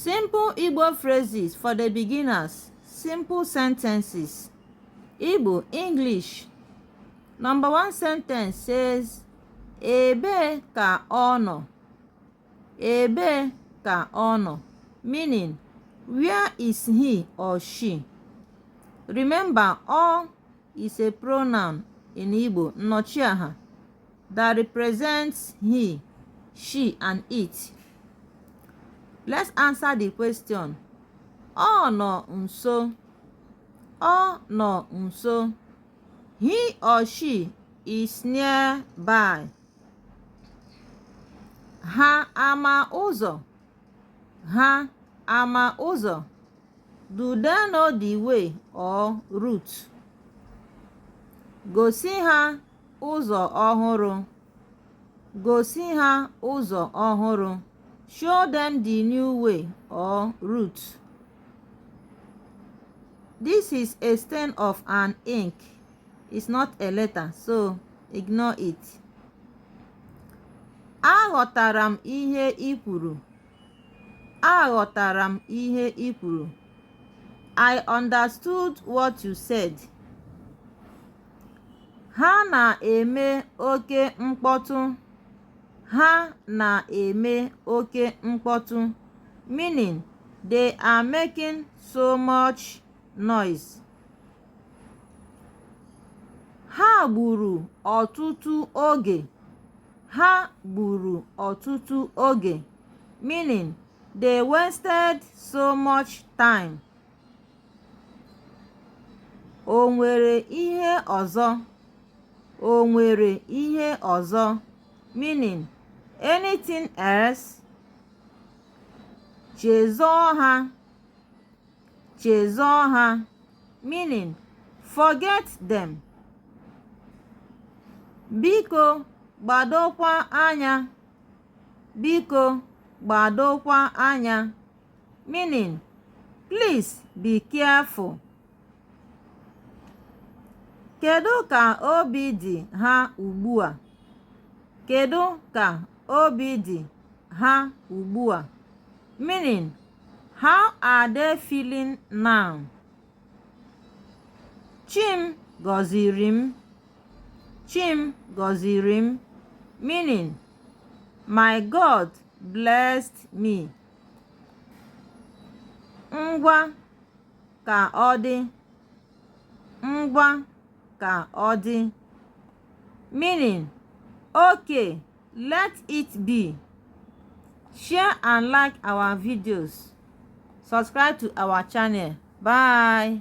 Simple Igbo phrases for the beginners. Simple sentences. Igbo, English. Number one sentence says, Ebe ka ọ nọ. Ebe ka ọ nọ. Meaning, where is he or she? Remember, all is a pronoun in Igbo, nnọchiaha. that represents he, she, and it. Let's answer the question. Ọ nọ nso. Ọ nọ nso. He or she is nearby. Ha ama ụzọ. Ha ama ụzọ. Do they know the way or route? Gosi ha ụzọ ọhụrụ. Gosi ha ụzọ ọhụrụ. Show them the new way or route. This is a stain of an ink. It's not a letter, so ignore it. Aghọtara m ihe i kwuru. Aghọtara m ihe i kwuru. I understood what you said. Ha na-eme oke mkpọtụ. Ha na-eme oke mkpọtụ meaning they are making so much noise. Ha gburu ọtụtụ oge. Ha gburu ọtụtụ oge meaning they wasted so much time. O nwere ihe ọzọ? O nwere ihe ọzọ? Meaning, anything else? Chezọọ ha. Chezọọ ha. Meaning, forget them. Biko gbadokwa anya. Biko gbadokwa anya. Meaning, please be careful. Kedu ka obi dị ha ugbu a? Kedu ka obi dị ha ugbu a? Meaning, how are they feeling now? Chim gọziri m. Chim gọziri m. Meaning, my God blessed me. ngwa ka ọ dị ngwa ka ọ dị meaning okay let it be share and like our videos subscribe to our channel bye